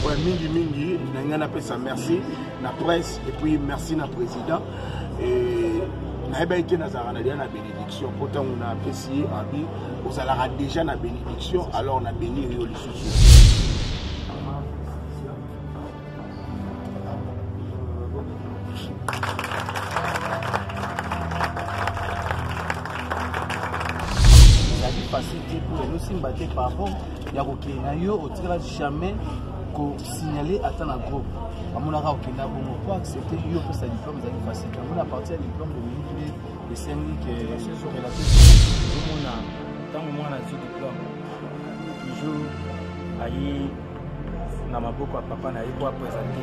Ouais, mingi mingi na ngai napesa merci na presse et puis merci na président et nayebaki te nazalaka na lia na bénédiction mpo ntango napesi ye abi ozalaka déjà na bénédiction alors na bénir yo lisusu facile te mpo elosimba te pardon ya kokende na yo otikala jamais kosignale ata na groupe amonaka okenda bongo po accepte yo opesa diplome ezali facile yango na parti ya diplome bolingi nde esengi ke omona ntango mwana azwi diplome toujours aye na maboko ya papa na ye po apresente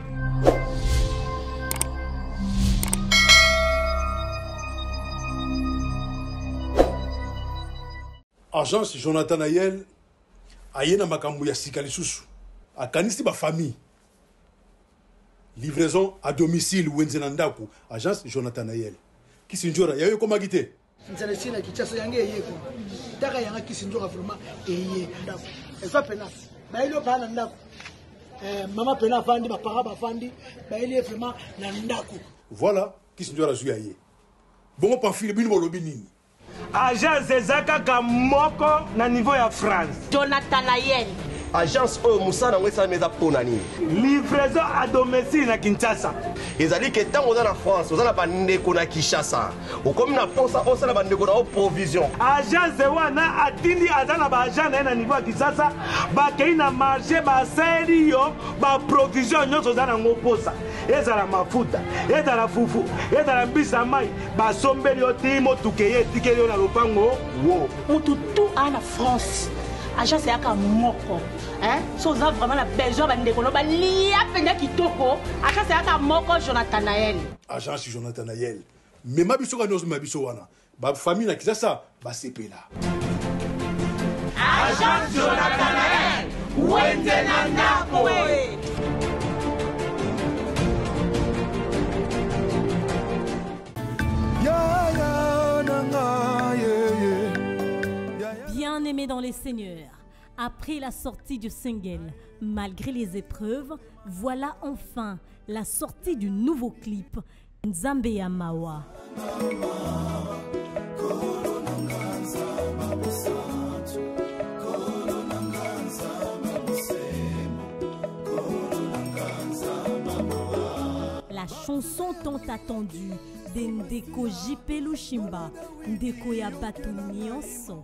agence jonathan ayel aye na makambo ya sika lisusu akanisi bafamille livraison à domicile wenze na ndako agence jonathan ayel kisinjora yayo ekomaki te nzala esi na kinshasa yango eye ko taka yanga kisi nzoka vraiment eye ndako eza pena bayeli yo baa na ndako eh, mama pena avandi bapara bavandi bayeli ye vraiment na ndako voilà kisi nzoka azwi ya ye bongo pamfile bino bolobi nini agence eza kaka moko na niveau ya france jonathan ayeni agence oyo mosala yango esalami eza mpo na nini livraison a domicile na kinshasa ezali ke ntango oza na france oza na bandeko na kinshasa okomi na posa osala bandeko na yo provision agent zewa na atindi aza na baagent na ye na niveau ya kisasa bakei na marché basali yo baprovision nyonso oza na yango posa ezala mafuta ezala fufu ezala mbisi ya mai basombeli yo ti motuka eye etikeli yo na lopango wo motu tu aa na france agence eyaka moko so oza vraiment na besoin bandeko no balia mpenza kitoko agence eyaka moko jonathan nael agence jonathan nael Mema biso kani ozomema biso wana. Ba famille na Kisasa basepela. Agent Jonathan Wende na ndako. aimé dans les seigneurs, après la sortie du single, malgré les épreuves, voilà enfin la sortie du nouveau clip Nzambe ya mawa. La chanson tant attendue de Ndeko JP Lushimba, Ndeko ya bato nyonso.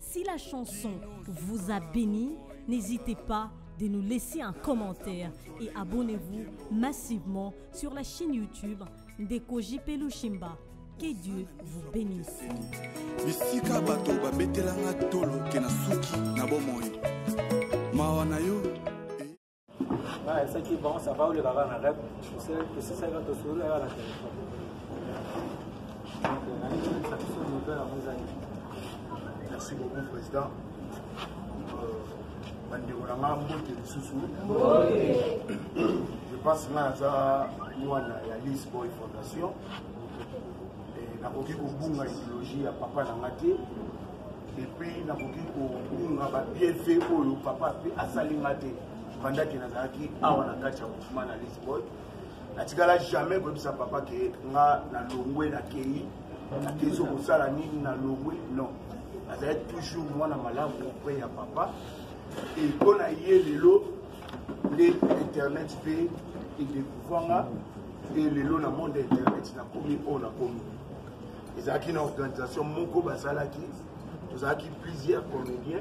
Si la chanson vous a béni, n'hésitez pas de nous laisser un commentaire et abonnez-vous massivement sur la chaîne YouTube Ndeko JP Lushimba. Que Dieu vous bénisse. bisika bato babetelanga tolo ke na suki na bomoi mawa na yo ce qui bon, ça va où les barres en rêve, tu sais, tu sais, ça va te sourire à la téléphone. Merci beaucoup, Président. bandeko na nga mbote lisusu je pense nga naza mwana ya lisboy fondation nakoki kobunga ideologie ya papa na nga te epuis nakoki kobunga babienfait oyo papa mpe asali nga te bandaki nazalaki awa na kati ya mouvement na lisbon natikala jamais koyebisa papa ke nga nalongwe nakei nakei so kosala nini nalongwe non azalaki toujours mwana malamu mpe ya papa e mpo na ye lelo nde internet mpe edekuvanga e lelo na monde internet nakomi oyo nakomi ezalaki na organisation moko basalaki tozalaki plusieurs comédien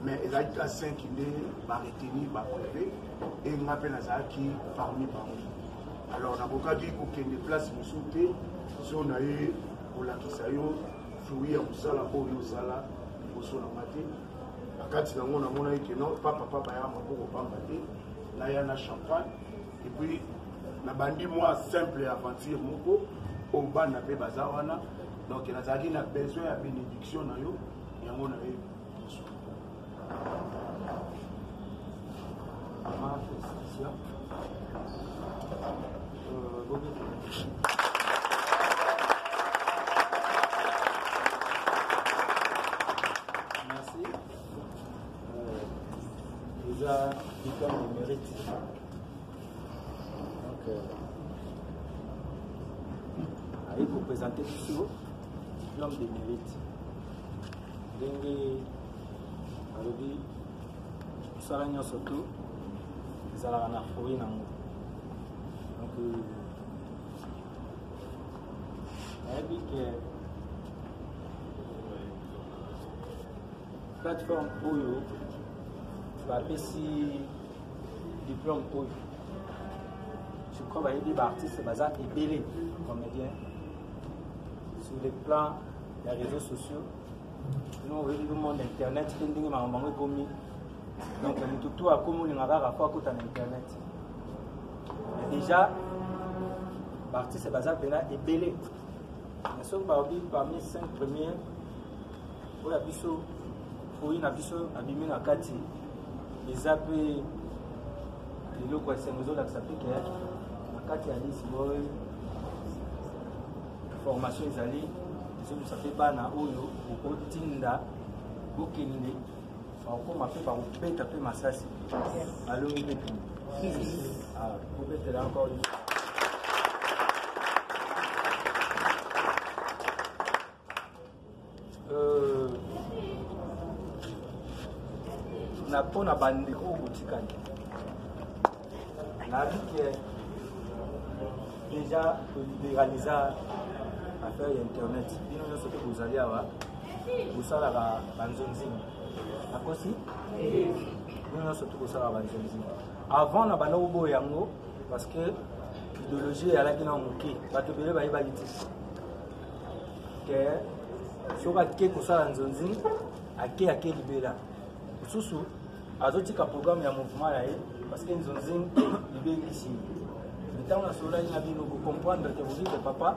mais ezalaki ka 5 nde baretenir bapreve e nga mpe nazalaki parmi bango alors nakokaki kokende place mosusu te so na ye kolakisa yo fruit ya mosala oyo osala liboso na nga te na kati na yango namonaki ke non papa papa ya maboko pamba te naya na champagne et puis na bandi moi simple aventure moko oyo bana mpe baza wana donc nazalaki na besoin ya bénédiction na yo yango na ye Mama, félicitations. Euh, bon, eza diplome ya mérite donc aye kopresente biso diplome de mérite ndenge alobi mosala nyonso to ezalaka na fruit nango donc nayebi ke plateforme oyo bapesi diplôme oyo je crois bayebi baartiste baza ebele comédien sur le plan ya réseaux sociaux no oyebi le monde internet mpe ndenge makambo yango ekomi donc motu to akomi olinga kaka po akota na internet mais déjà baartiste baza mpena ebele mais soki baobi parmi 5 première oyo biso oyo na biso abimi na kati eza mpe eloko ya esengo ezolakisa mpe keyaki na kati ya lisi oyo formation ezali ezolusa mpe bana oyo okotinda bokende bakokoma mpe bakobeta mpe masasi balongi mpe kende ah, kobetela encore Euh, na mpo na bandeko oyo botikani nayebi ke déjà toliberalisa affaire ya internet bino nyonso mpe bozali awa bosalaka banzonzini nakosi bino nyonso mpe bosalaka banzonzini avant na banda koboya yango parce que idéologie eyalaki na moke bato ebele bayebaki te ke soki ake kosala nzonzi ake ake libela mosusu azotika programme ya mouvement na ye parce que nzonzi libengisi ye ntango nasololaki na bino bocomprendre te bozite papa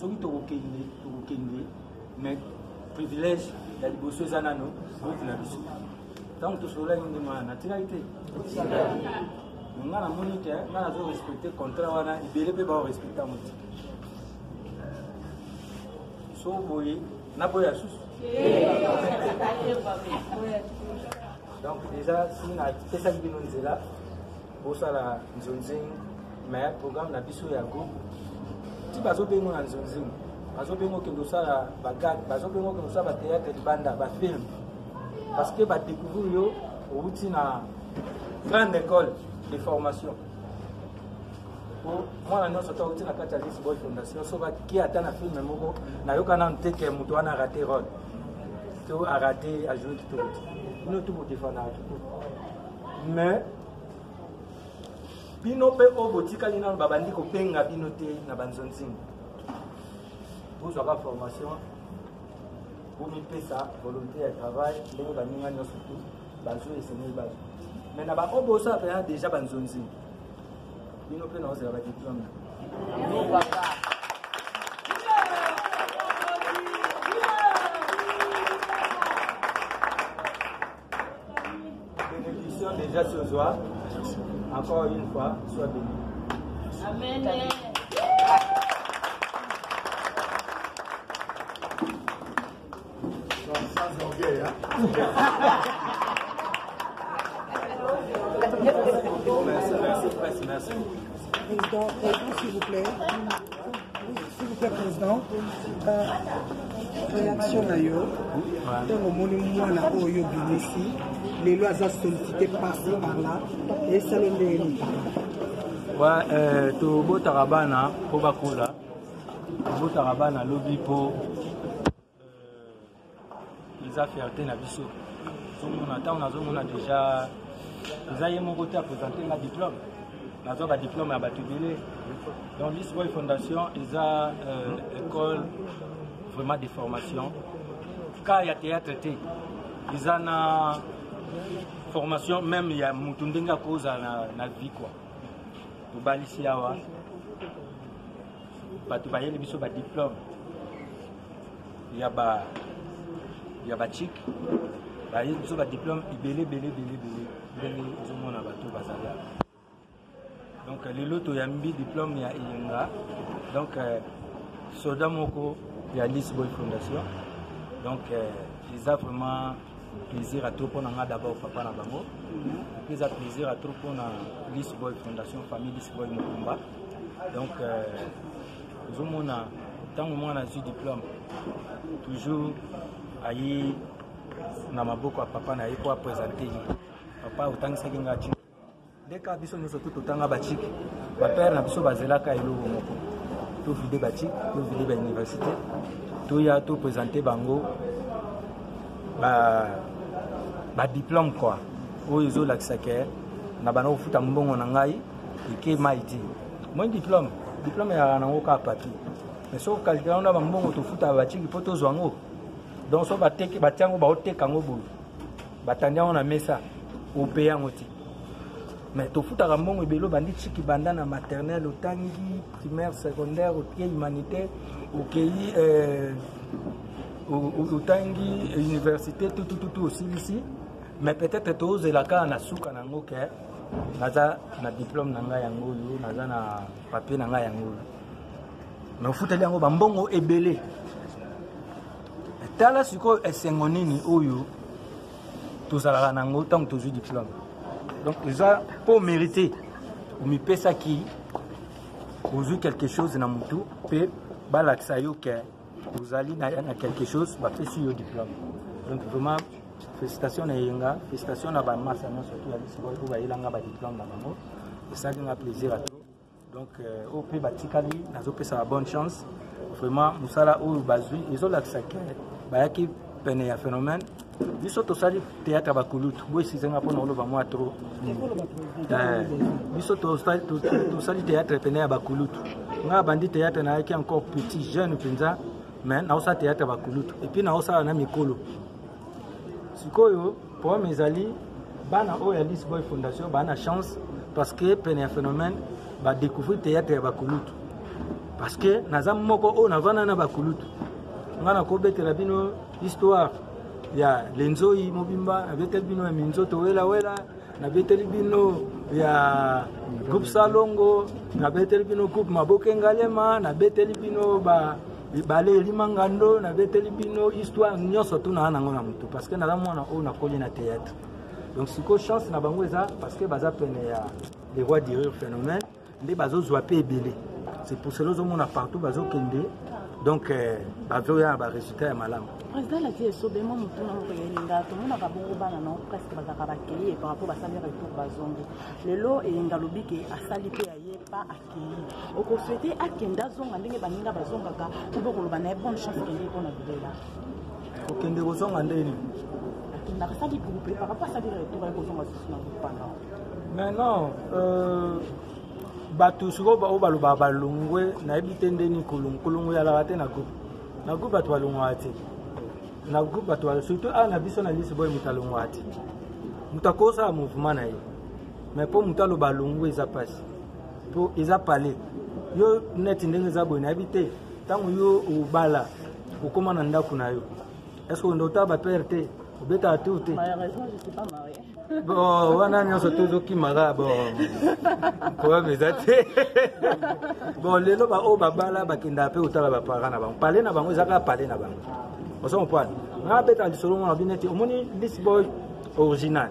soki tokokende tokokende mais privilège ya liboso eza nano groupe na biso ntango tosololaki nde mwana natikaki te nga namoni te nga nazo respecte contrat wana ebele mpe baorespecte yango te so boye naboya susu donc déjà si napesaki bino nzela bosala nzonzing mais programme na biso ya groupe ti bazobengo na nzonzing bazobengo okende osala bagag bazobengo okende osala batheatre libanda bafilme parce que badécouvrir yo owuti na grande école de formation mwana nyonso to auti na kati ya lisboy fondation so baki ata na filme moko nayoka nanu te ke moto wana arate role to arate ajoue kitoko te bino tu bodefanaka kitoko mais bino mpe oyo botikali nano babandi kobenga bino te na banzonzingo bozwaka formation bomipesa volonté ya travail ndenge baninga nyonso tu bazwi esengeli bazwi me na baoyo bosala mpenza deja banzonzi bino mpe naozela badiplome bénédiction déjà ce soir encore une fois soit béni amen Président, président, s'il vous plaît. S'il vous plaît, président. Euh, réaction na yo ntango omoni mwana oyo obimisi lelo aza sollicité parci par là esalo ndenge nini tobotaka bana mpo bakola Abotaka bana lobi po euh, eza fierté na biso. Tozomona ntango nazomona deja eza ye moko te apresente nga diplome nazwa badiplome ya bato ebele donc lisboy fondation eza euh, école vraiment de formation cas ya théâtre te eza na formation même ya motu ndenge akozala na, na vie quoi tobalisi awa bato bayeli biso badiplome ya ba ya bachike bayeli biso badiplome ebele ebele ebele ebele ndenge ozomona bato bazali awa donc lelo toyambi diplome ya eyenga donc euh, soda moko ya lisboy fondation donc euh, eza vraiment plaisir à trop mpo na nga d'abord papa na bango mpe eza plaisir à trop mpo na lisboy fondation famille lisboy mokumba donc euh, ozomona ntango mwana azwi diplôme toujours aye na maboko ya papa na ye mpo apresente ye papa otangisaki nga tina leka biso nyonso tu totanga baciki bapere na biso bazelaka eloko moko tovide baciki tovide bauniversité toya topresente bango badiplome ba kua oyo ezolakisa ke na bana kofuta mbongo na ngai eke mai ti moi diplome diplome eyaka nango kaka papier mais soki okalkila yango na bambongo tofutaka baciki mpo tozwa yango donc soki bateki batya yango baoteka yango boye batandi yango na mesa ope yango ti mais tofutaka mbongo ebele obandi ciki banda na maternelle otangi primaire secondaire otie humanitaire okei euh, otangi université tutututu osilisi mais peut-être tozela kaka na suka na yango ke naza na diplôme na ngai yango oyo naza na papier na ngai yango oyo mais ofuteli yango bambongo ebele tala sikoyo esengo nini oyo tozalaka na yango ntango tozwi diplome donc eza mpo omérite omipesaki ozwi quelque chose na motu mpe balakisa yo ke ozali na, na quelque chose bapesi yo diplome donc vraiment félicitation na eyenga félicitation na bamasa nyonso to ya lisiko oyo bayelanga badiplome na bango esali nga plaisir ato donc euh, oyo mpe batikali nazopesa bonne chance vraiment mosala oyo bazwi ezolakisa ke bayaki pene ya phénomène biso tosali théâtre ya bakulutu boyisize nga mpona oloba mwa tro eh, biso tosali théâtre pene ya bakulutu nga abandi théâtre nayaki encore petit jeune mpenza mais naosala théâtre ya bakulutu epuis naosala na mikolo sikoyo problème ezali bana oyo ya Alice Boy Fondation bana chance parce que pene ya phénomène ba découvrir théâtre ya bakulutu parce que naza moko oyo navanda na bakulutu nga nakobetela bino histoire ya lenzoi mobimba nabeteli bino ya minzoto welawela wela. nabeteli bino ya groupe salongo nabeteli bino groupe maboke ngalema nabeteli bino ba ebale elima ngando nabeteli bino histoire nyonso tuna na yango na motu parce que naza mwana oyo nakoli na théâtre donc sikoyo chance na bango eza parce que baza pene ya le roi dirure phénomène nde bazozwa mpe ebele c'est pour cela ozomona partout bazokende donc euh, bazoya na baresultat ya malamu président alati esobe mwa motuna moko ya eyenga tomonaka bongo bana na presque bazalaka bakei par rapport basali retour bazongi lelo eyenga alobi ke asali mpe aye pa akei okoswete akende azonga ndenge baninga bazongaka to bokoloba na ye bonne chance kende mpo na bilela kokende kozonga ndeni akendaka saki groupe par rapport asaki retour aye kozonga susu na groupe wana mais non euh, bato sikoyo oyo balobaka balongwe nayebi te ndeni kolongwe kolongwe yalaka te na groupe na groupe bato balongwaka te na groupe bato balo surtout awa na biso na lisi boye moto alongwaka te moto akosala mouvement na ye mais mpo moto aloba alongwe eza mpasi mpo eza pale yo neti ndenge eza boye nayebi te ntango yo obala okoma na ndako na yo eske okende otala bapere te obetaka tour te bon wana nyonso tozokimaka bon problème eza te bon lelo baoyo babala bakendaka mpe kotala baparent na bango pale na bango eza kaka pale na bango ozo comprendre nga betaka lisolo mona bino ete omoni lisboy original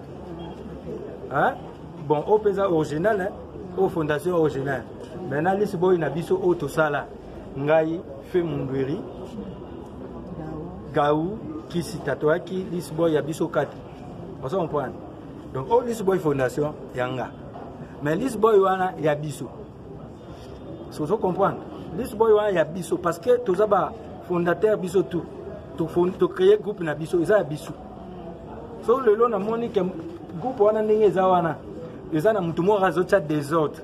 bon oyo mpenza original oyo fondation original maintenant lisboy na biso oyo tosala ngai fe mundweri gau kisi tatoyaki lisboy ya biso kati ozo comprendre donc oyo oh, lisboy fondation ya nga mais lisboy wana ya biso sozo comprendre lisboy wana ya biso parce que toza ba fondateur biso tout tocreye groupe na biso eza ya biso so lelo namoni ke groupe wana ndenge eza wana eza na motu moko azotya desordre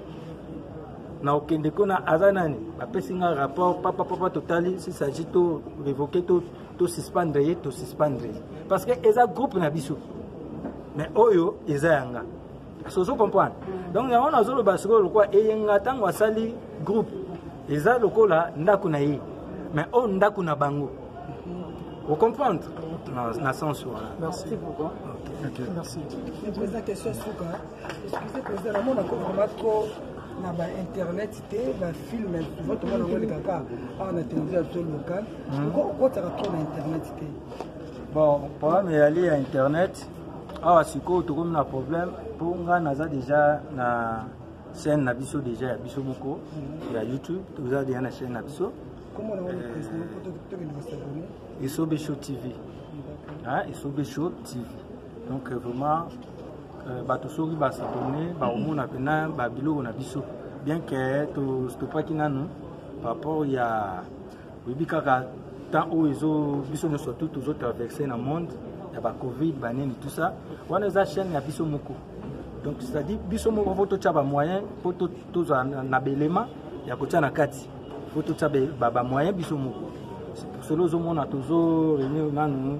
na okende kuna aza nani bapesi nga rapport papa papa totali si s'agit to revoke to, to suspendre ye to suspendre ye parce que eza groupe na biso mais oyo eza ya nga sozo comprendre donc yango nazoloba sikoyo lokola eyenga ntango asali groupe eza lokola ndako na ye mais oyo ndako na bango vous comprendre na, na sens wana merci beaucoup okay. Okay. merci Excusez président, la mona ko vraiment trop na ba internet te ba film souvent to mona ngoli kaka awa na télévision to local hmm. ko ko tara trop na internet te. Bon, problème ya li ya internet awa sikoyo tokomi na problème mpo ngai naza déjà na chaîne na biso déjà ya biso moko hmm. ya youtube toza déjà na chaîne na biso esobe show tv esobe show tv donc euh, vraiment euh, bato soki basabone bakomona mpena babiloko na biso bien ke tostopaki nanu par rapport ya oyebi kaka temps oyo ezo biso nyonso tout tozo traverse na monde ya bacovid banini tout ça wana eza chaîne ya biso moko donc c'est-à-dire biso moko fo totya bamoyen mpo tozala na belema ya kotya na kati fo totya bamoyen biso moko solo ozomona tozo renir nanu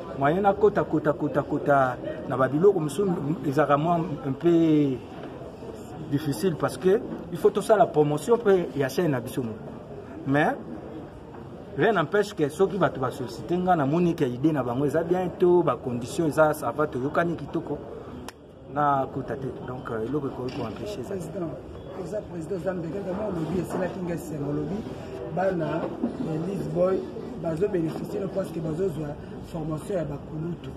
moyen na kota kota kota kota na ba biloko mosusu ezalaka mwa un peu difficile parce que il faut tosala promotion mpe ya chaine na biso moko mais rien n'empêche que soki bato basollicite ngai namoni ke idée na bango eza bien to bacondition eza sava toyokani kitoko na kota te donc euh, eloko ekoki koempêche eza oza président oza mbeka kama olobi esilaki nga esengo olobi bana ya lisboy bazobénéficie no parce que bazozwa formation ya bakulutu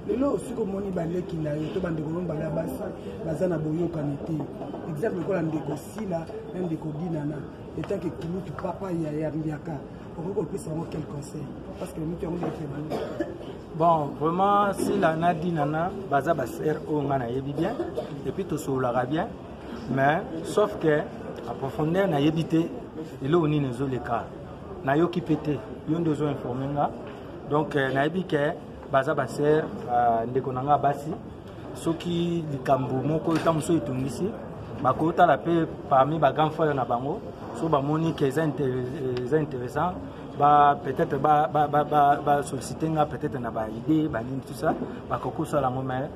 lelo osiko omoni baleki na yo to bandeko no bala basi baza na boyokani te exemple lokola ndeko sila na ndeko dinana etant que kulutu papa ya yambiaka okoki kopesa yango quel conseil parce que moto yango ndeko bon vraiment sila na dinana baza basere oyo ngai nayebi bien epuis tosololaka bien mais sauf que aprofondeur nayebi te eloko nini ezoleka nayoki mpe te yo nde ozo informe nga donc euh, nayebi ke baza basere euh, ndeko na ngai basi soki likambo moko ntango mosusu etungisi bakotala mpe parmi ba grand frère na bango so bamoni ke eza intéressant ba peut-être ba ba ba ba, ba solliciter nga peut-être na ba idée ba nini tout ça ba kokosala ngo mais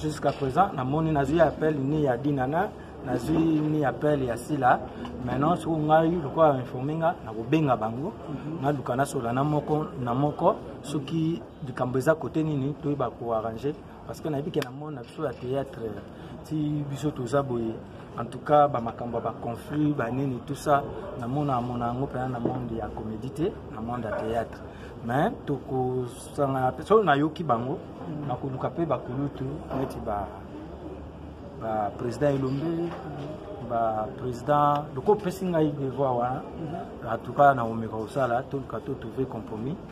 jusqu'à présent na moni nazui appel ni ya dinana nazui ni appel ya sila maintenant soko ngai lokola informe nga nakobenga bango mhm. naluka nasola na moko na moko soki likambo eza kote nini toyeba koarrange parce que nayebi ke na monde na biso ya théâtre ti biso toza boye en tout cas bamakambo ya baconflit banini tout ça namona amona yango mpena na monde ya comédie te na monde ya théâtre mais tokosangana mpe solo nayoki bango nakoluka mpe bakulutu neti ba baprésident elombe baprésident loko opesi ngai devoir wana en tout cas nakomeka kosala toluka to trouve compromis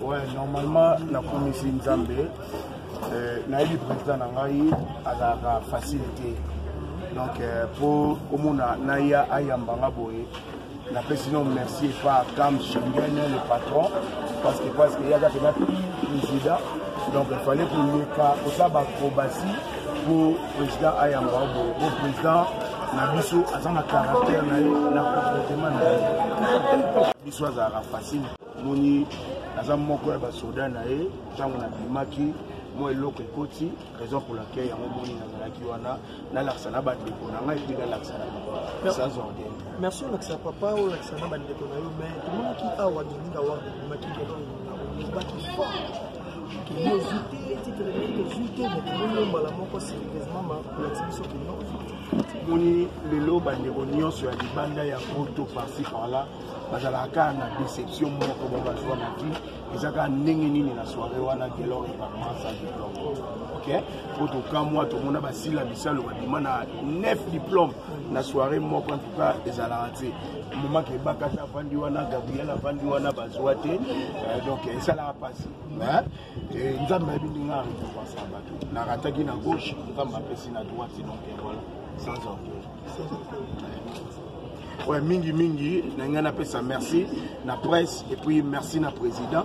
Ouais, normalement nakomisi nzambe euh, nayebi président na ngai azalaka facile te donc mpo euh, omona naya ayamba nga boye napesi no merci epa cam schengen le patron parce que parce que yaka pena président donc il fallait koleka kosala baacrobatie pour président ayamba obo bo président na biso aza na caractère na ye na comportement na ye biso azalaka facile moni aza moko ya basoda na ye ntango nabimaki mwa eloko ekoti raison pour laquelle yango moni nazalaki wana nalakisa na bandeko na ngai mpe nalakisa na bango sans ordene merci olakisa papa olakisa na bandeko na yo mai tomonaki awa deninga wana omaki lelo olobaki fort tozwi te titre na ye tozwi te me tolongi yo mbala moko serieusement makolakisa biso kino moni lelo bandeko nyonso ya libanda ya poto parci parla bazalaka kaka na déception moko ba bazwa na vie eza kaka ndenge nini na soirée wana gelor eparmasa diplome ok po tokamwa tomona basila bisalo babima na 9 diplome na soirée moko antuka ezalaka te moma kebakasi avandi wana gabriel avandi wana bazwa te euh, donc esalaka mpasi nzambe ayebi ndenge arekompasa bato narataki na gauche nzambe apesi na droite donc voilà sans orgueil ouais, mingi mingi na ngai napesa merci na presse et puis merci na président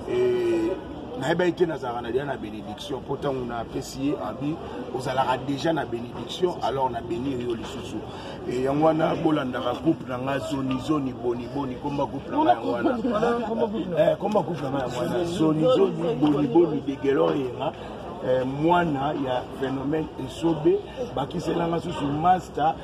et nayebaki te nazalaka na lia na bénédiction mpo ntango napesi ye abi ozalaka deja na bénédiction alors na bénir yo lisusu e yango wana bolandaka groupe na nga zonizoni boniboni komba groupe na nga yango wana eh, komba groupe na nga yango wana zonizoni boniboni degelor yenga eh, mwana ya phénomène esobe bakiselanga susu masta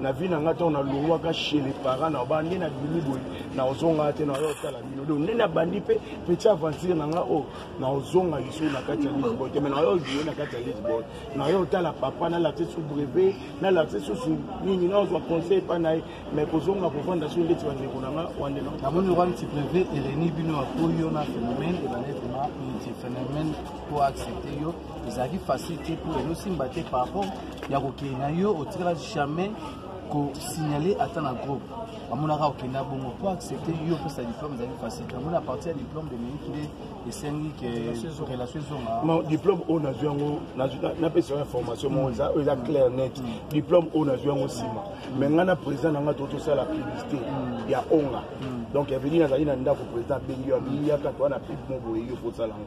na vie na ngai ntango nalongwaka chez les parents na ba nde nabimi boye naozongaka te naoya otala bino donc nde nabandi mpe petit aventure na ngai oyo oh, naozonga lisusu na kati ya lisboy te mai naoya ojoue na kati ya lisboy naoya otala papa nalakse su brevet nalakse susu nini naozwa conseil epai na ye mai kozonga kovanda soki ndeti bandeko na ngai wande namoni okwani ti brevet eleni bino akoyo na phénomène ebandetema ti phénomène po accepte yo ezalaki facile te mpo ezosimba te par rapport ya kokende na yo otikala jamais kosignale ata na groupe amonaka okenda bongo mpo accepte yo opesa diplôme ezali facile yango na parti ya diplôme de minute nde esengi ke relation ezonga diplôme oyo nazwi yango napesa yango information moko eza oyo eza clair net mm. diplôme oyo nazwi yango nsima mm. mais ngai na président na ngai to tosala publicité mm. ya onga donc eveli nazali na ndako président abengi yo abiyaka toa na pipe mo boye yo kosala yango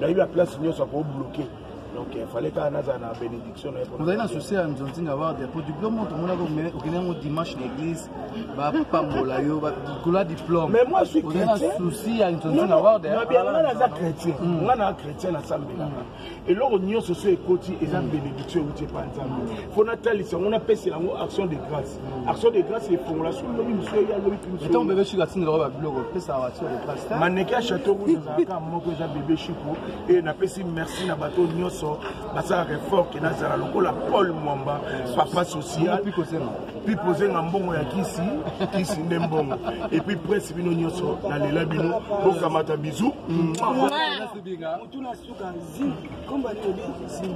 nayebi aplace nyonso akobloke donc il fallait kaka nazala na bénédiction na ye ozali na souci ya nzonzinga warde po diplôme oyo tomonaka okende yango dimanche na église bapambola yo likolo ya diplôme mais moi suis chrétien ozali na souci ya nzonzinga warde nga naza chrétien hmm. nga naa chrétien nasambelaka hmm. eloko nyonso so ekoti eza hmm. bénédiction euti epa nzambe mpo natalisa yango napesela yango action de grâce action de grâce efongola soki lobi mosusu eya lobi ntango bebe shiko atindelaka babiloko pesaka action de grâce maneke ya chateau rouge ezalaka moko eza bebe shiko e napesi merci na bato nyonso basalaka effort ke nazala lokola paul mwamba papa social pipozenga mbongo ya kisi kisi nde mbongo epuis presse bino nyonso nalela bino bokamata bizu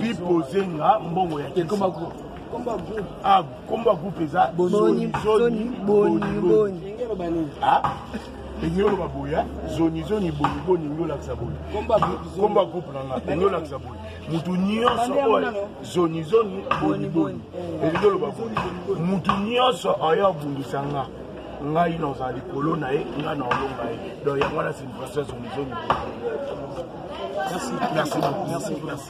pipozenga mbongo ya kisi kombo ya groupe eza boni zoni boni boni elingi oloba boye zonizoni boyebo olingi olakisa boye komba groupe na nga olingi olakisa boye motu nyonso oyo zonizoni boniboni elingi oloba boye motu nyonso oyo abundisa nga ngai naza likolo na ye ngai na olonga ye donc yango wana signification zonizoni merci merci merci